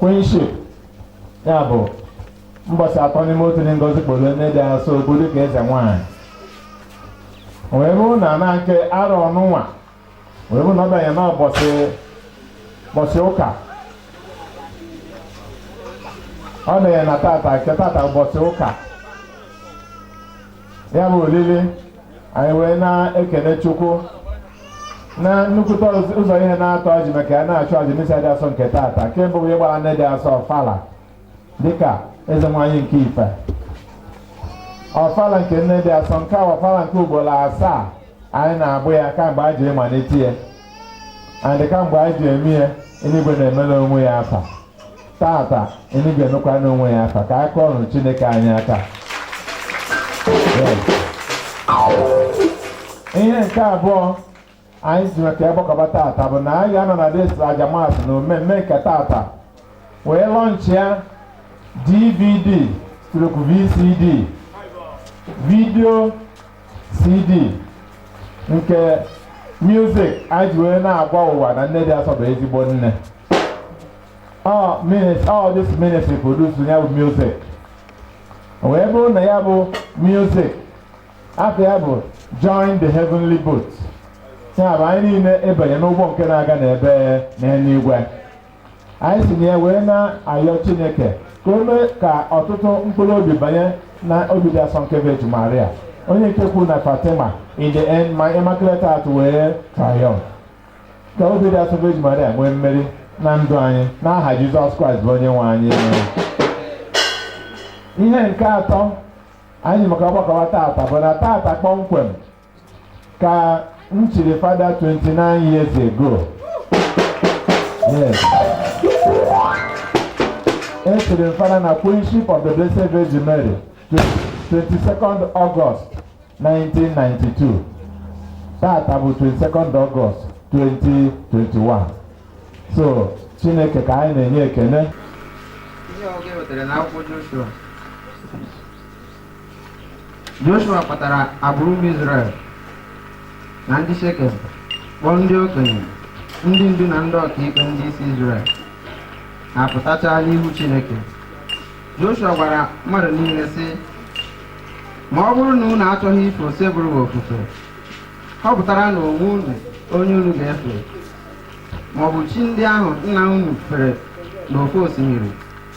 Queenship, ya bụ mbọchị atọ n'ime otu dị ngọzi kpuru nne dị asọ okpu dịka eze nwanyị wee bụrụ na na nke arọ nụnwa wee bụrụ na ọ banye n'ụbọchị ụka ọ banye na tata nke tata ụbọchị ụka ya bụ olili anyị wee na-ekene chukwu na nnukwute ụzọ ihe naatọ e ji maka ya na-achụ aja misa dị asọ nke taata nke mbụ bụ ịgbara nne dị asọ ọfala dịka eze nwanyị nke ife ọfala nke nne dị asọ nke a ọfala nke ugboro asaa anyị na-agba ya kamgbe anyị ji malite ya and kamgbe anyị ji eme ya eluigwe na-emere onwe ya afa tata enuigwe ga-emekwara onwe ya afa ka a kụọrọ chineke anyị aka ihe nke abụọ anyị ji maka ya gbakọba tata bụ na anyị ga-anọ na this aja Mass na mmemme nke tata wee lọnchịa dvd stroke vcd vidio CD nke music anyị ji wee na-agwa ụwa na nne dị asọ bụ ezigbo nne all this ministry produce ya bụ music wee bụrụ na ya bụ music afa ya bụ join the heavenly boat ya bụ anyị niile ịbanye n'ụgbọ nke na-aga n'ebe n'eluigwe anyị si na ya wee na-ayọ chineke ka o mee ka ọtụtụ mkpụrụ obi banye na obi dị asọ nke veji maria onye nke kwuru na fatima in the end my immaculate heart will triumph ka obi dị asọ veji maria nwee mmeri na ndụ anyị n'aha jizọs kraịst bụ onye nwe anyị ihe nke atọ anyị ji maka ya gbakọwa tata bụ na tata kpọmkwem ka m chiri fada 29 years ago yes e chiri m fada na queenship of the blessed virgin mary 22nd august 1992 tata bụ 22nd august 2021 so chineke ka anyị na-enye ekene ihe ọgụgụ e wetara n'akwụkwọ Joshua Joshua kpọtara agbụrụ ụmụ Izrel na ndị Shekem kpọọ ndị okenye ndị ndu na ndị ọkaikpe ndị isi Izrel ha pụtachara n'ihu Chineke Joshua gwara mmadụ niile sị ma ọ bụrụ na unu achọghị ife Osebụrụwa ofufe họpụtaranụ onwe unu onye unu ga-efe maọbụ chi ndị ahụ nna unu fere n'ofe osimiri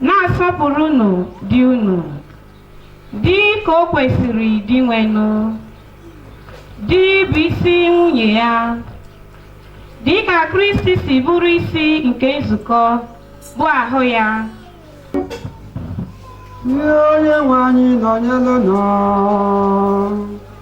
Na-asọpụrụnụ di unu, dị ka o kwesịrị Dinwenụ. Di bụ isi nwunye ya. Dị ka Kristi si bụrụ isi nke nzukọ, bụ ahụ ya. Nye onye nwe anyị nọnyere unu.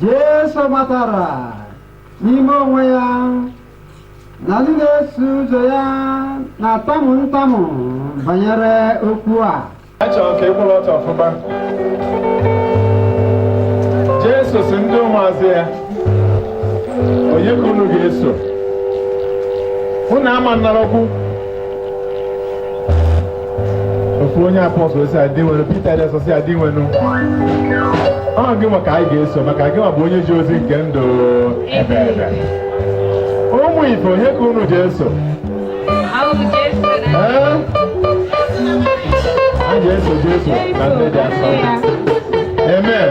Jesu matara n'ime onwe ya na ndị na-eso ụzọ ya na-atamu ntamu banyere okwu a a chọrọ ka ị kwụrụ ọtọ ọfụma Jesu sị ndị ụmụazụ ya onye ka unu ga-eso unu ama nnara okwu ofu onye apọstụl sị ya Dinwenụ Pita dị asọ sị ya Dinwenụ ọ gị nwa ka anyị ga-eso maka gị nwa bụ onye ji ozi nke ndụ ebeebe ụmụ ife onye ka unu ji eso Ee? a ga-eso Jesu na ndị dị asọ amen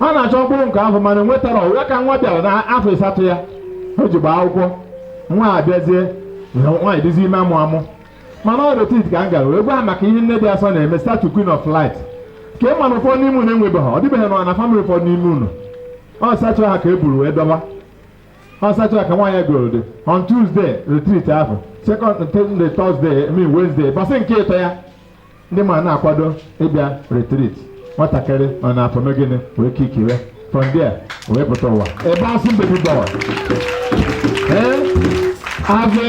ọ na-achọ mkpụrụ nke afọ mana enwetarọ ya ka nwa bịara na afọ ịsatọ ya o ji gbaa akwụkwọ nwa abịazie nwaanyị dịzi ime amụ amụ mana ọ retreat ka m gara wee gwa ha maka ihe nne dị asọ na-eme statue queen of light ka ị ma na ụfọdụ n'ime unu enwebeghị ọ dịbeghị na na famịlị ụfọdụ n'ime unu ọ statue a ka e buru wee dọba ọ statue a ka nwaanyị goro dị on tuesday retreat ahụ second day, Thursday, I mean Wednesday, bọsị nke ịtọ ya ndị ma na-akwado ịbịa retreat nwatakịrị nọ n'afọ mee gịnị wee kikiwe from there o wee pụta ụwa ebe a sị mbebi dọwa ee azụ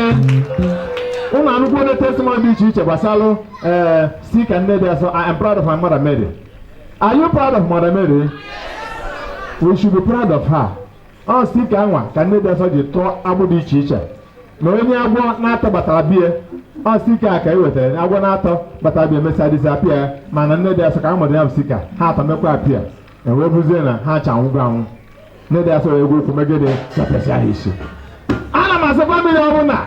ụmụ anụkwu onye testimony dị iche iche gbasara ee sticker nne dị asọ I am proud of my mother Mary are you proud of mother Mary we should be proud of her ọ sticker nwa ka nne dị asọ ji tọọ agbụ dị iche iche na onye agwọ naatọ batara be ya ọ sticker a ka e wetara na agwọ naatọ batara be ya mesịa disappear mana nne dị asọ ka a mado ya bụ sticker ha atọ mekwa appear e wee fụzie na ha ncha anwụgo anwụ nne dị asọ wee ji ụkwụ mee gịnị zọpịasịa ha isi ana m asị famịlị ọbụla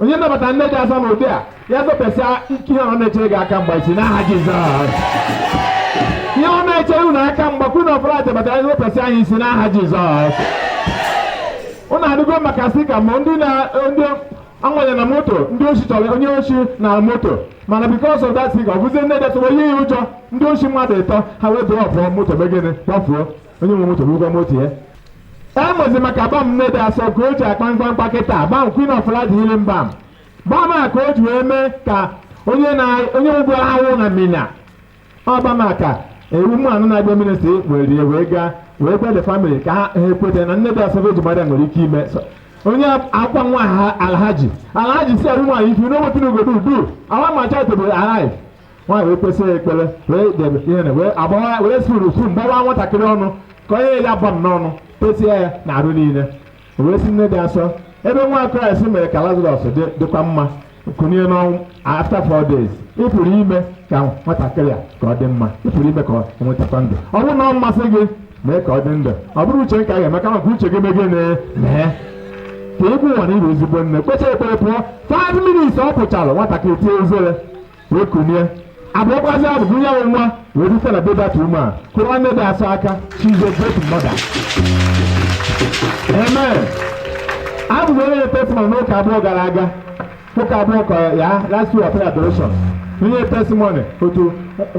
onye nabata nne dị asọ n'ụdị a ya zọpịasịa ike ihe ọ na-echere gị aka mgba isi n'aha Jizọs ihe ọ na-echere unu aka mgba kwunu ọbụla nabatara ya zọpịasịa ya isi n'aha Jizọs unu anụgo maka sticker ma ndị na ndị amanye na moto ndị oshi chọrọ onye oshi na moto mana because of that sticker ọ bụzie nne dị asọ yie ya ụjọ ndị oshi mmadụ ịtọ ha wee drọpụọ moto mee gịnị gbafuo onye nwe moto burukwa moto ya Emezi maka balm nne dị asọ ka o ji akpa mkpamkpa kịta balm Queen of Lady healing balm balm a ka o ji wee mee ka onye na onye ugbu ahụ na Minna ọ balm a ka ya bụ nwaanyị na-abịa ministry were ya wee gaa wee gwa the family ka ha ha ekweta na nne dị asọ eji mmadụ nwere ike ime so onye akwa nwa ha alhaji alhaji sị ya bụ nwaanyị if you know wetin you go do do our macha to be alive nwaanyị wee kpesịa ekpere wee debe ihe na wee agbawa wee suru spoon gbawa nwatakịrị ọnụ ka o nye ya balm n'ọnụ tesie ya na arụ niile O wee si nne dị asọ ebe nwa kraịst mere ka lazarus dị dịkwa mma kunie n'ọnwụ after four days ị pụrụ ime ka nwatakịrị a ka ọ dị mma ị pụrụ ime ka ọ nwetakwa ndụ ọ bụrụ na ọ masị gị mee ka ọ dị ndụ ọ bụrọ uche m ka a ga-eme kama ka uche gị mee gị na- mee ka e gosi ụwa na ị bụ ezigbo nne kpecha ekpere pụọ five minutes ọ pụchara nwatakịrị tie uzere wee kunie abụọkwazi abụ gụnye ya nwa wee dịsa na bebata ume kụọrọ nne dị asọ aka she's a better mother amen a bịa nye testimony n'ụka abụọ gara aga ụka abụọ ka ya last week ọpere adoration o nye testimony otu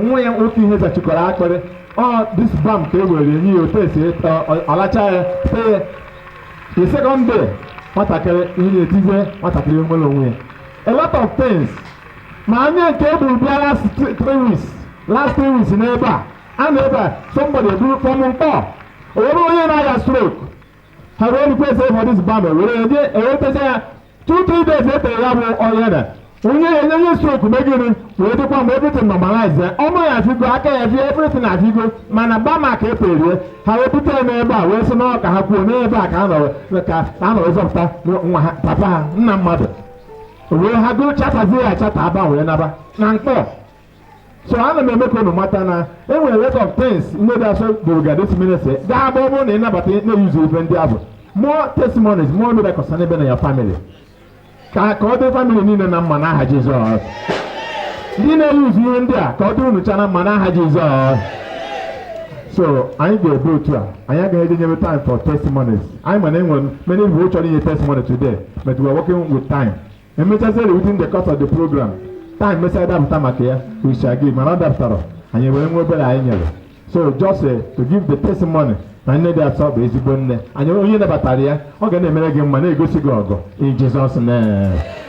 nwa ya nwoke ihe zachikọrọ akpịrị ọ this balm ka e were nye ya o tesie ọ lachaa ya tee the second day nwatakịrị ihe na-etize nwatakịrị nwere onwe ya a lot of things ma onye nke e buru bịa last three three weeks last three weeks n'ebe a a na ebe a somebody eburu from Nkpor o nwere onye na-aya stroke ha wee request for this balm wee nye e techaa ya two three days e tere ya bụ onye na onye enye onye stroke megịrị wee dịkwa mma everything normalize ya ọnụ ya figo aka ya fie everything na figo mana balm a ka e tere ya ha wee bute ya n'ebe a wee sị na ọ ka ha kwuo n'ebe a ka a nọ ka a nọ wee zọpụta nna ha papa ha nna mmadụ wee ha gụọ chatazie ya chata aba wee naba na Nkpor so ana m eme ka unu mata na e nwere lot of things nne dị asọ bụrụga this ministry ga-agba ọ bụrụ na ị nabata na-eyuzu ife ndị a bụ more testimonies more miracles n'ebe na ya family ka ka ọ dị family niile na mma n'aha Jizọs ndị na-eyuzu ihe ndị a ka ọ dị unu cha na mma n'aha Jizọs so anyị ga-eme otu a anyị agaghị eji nyebe time for testimonies anyị mana e nwere many people chọrọ inye testimony today but we are working with time emechaziri within the course of the program time mesịa dapụta maka ya we shall give mana ọ dapụtarọ anyị were nwa obere anyị nyere so just uh, to give the testimony na nne dị asọ bụ ezigbo nne anyị onye nabatara ya ọ ga na-emere gị mma na-egosi gị ọgọ in Jesus name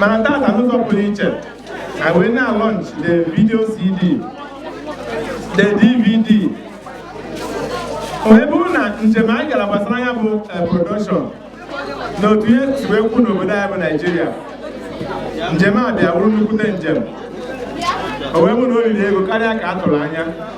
mana tata n'ụzọ pụrụ iche I will now launch the video CD the DVD o wee bụrụ na njem anyị gara gbasara ya bụ eh, production na otu ihe si wee kwụ n'obodo anyị bụ Naijiria njem a bịa bụrụ nnukwute njem o wee bụrụ na o riri ego karịa ka a tụrụ anya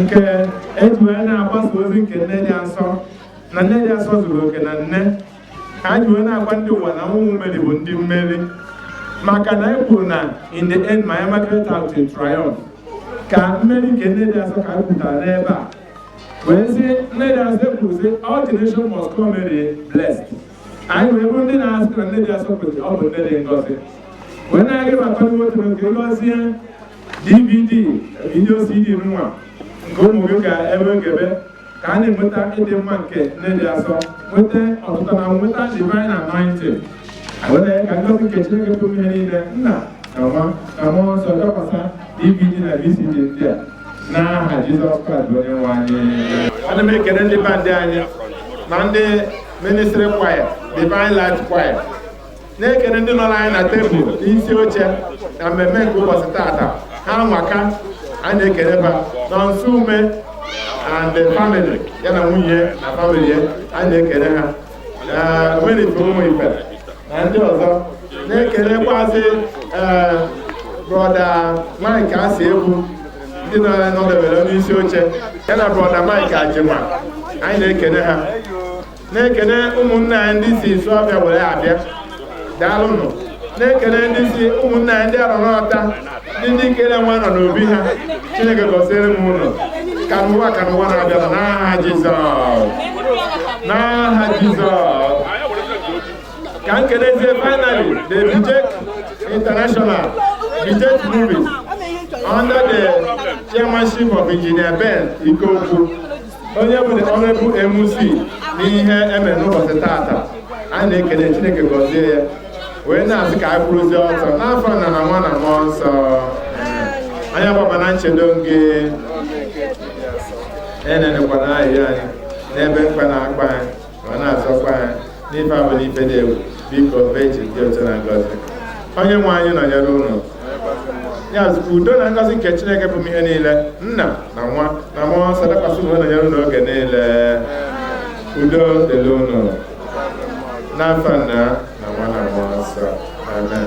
nke eji wee na-agbasa ozi nke nne dị asọ na nne dị asọ zuru oke na nne ka anyị wee na-agwa ndị ụwa na ụmụ meri bụ ndị mmeri maka na anyị kwuru na in the end my immaculate heart will triumph ka mmeri nke nne dị asọ ka anyị kwutara n'ebe a wee sị nne dị asọ ekwuru sị all the nation must call me blessed anyị wee bụrụ ndị na-asị na nne dị asọ kwesịrị ọ bụ nne dị ngọzi wee na-aga ịbata nwoke nke ngọzie dvd video cd nwa nke ụmụ gị ka ebe ogebe ka a na-enweta ịdị mma nke nne dị asọ nweta ọtụtụ na nweta divine anointing were ka ngozi nke chineke pụrụ ihe niile nna na nwa na mmụọ nsọ dakwasa dvd na vcd ndị a n'aha jizọs kraịst bụ onye nwe anyị ana m ekele ndị band anyị na ndị ministry choir divine light choir na-ekene ndị nọọrọ anyị na tebụl isi oche na mmemme nke ụbọchị tata ha nwa ka anyị na-ekene ba na nso ume and the family ya na nwunye ya na family ya anyị na-ekene ha na omenigbo ụmụ ife na ndị ọzọ na-ekenekwazi ee brọda mike asiegbu ndị nọ nọdebere onye isi oche ya na brọda mike ajima anyị na-ekene ha na-ekene ụmụnne anyị ndị si isuọfịa were abịa daalụnụ na-ekene ndị si ụmụnne anyị ndị arọ n'ọta ndị ndikelionwu nọ n'obi ha chineke gọziere m ụnụ ka ụnụ nwa ka ụnụ nwa na-abịa n'aha jizọs n'aha jizọs ka m kenezie finally the bijek international bijek movies under the chairmanship of engineer ben ikeokwu onye bụ na ọ bụ ya bụ MC n'ihe emere n'ụbọchị tata a na-ekele Chineke gọzie ya wee na-asị ka anyị kwụrụzie ọtọ n'afa nna na nwa na mmụọ nsọ anyị agbaba na nchedo gị enenikwana ayịyọ anyị n'ebe mkpa na-akpa anyị ma na-azọkwa anyị n'ife ọbụna ife dị egwu biko vejin dị otito na ngọzi onye nwe anyị nọnyere ụnụ ya zụkwa udo na ngọzi nke chineke pụrụ ihe niile nna na nwa na mmụọ nsọ dakwasị ụnụ nọnyere ụnụ oge niile udo dịrị ụnụ n'afa nna na nwa na mmụọ nsọ amen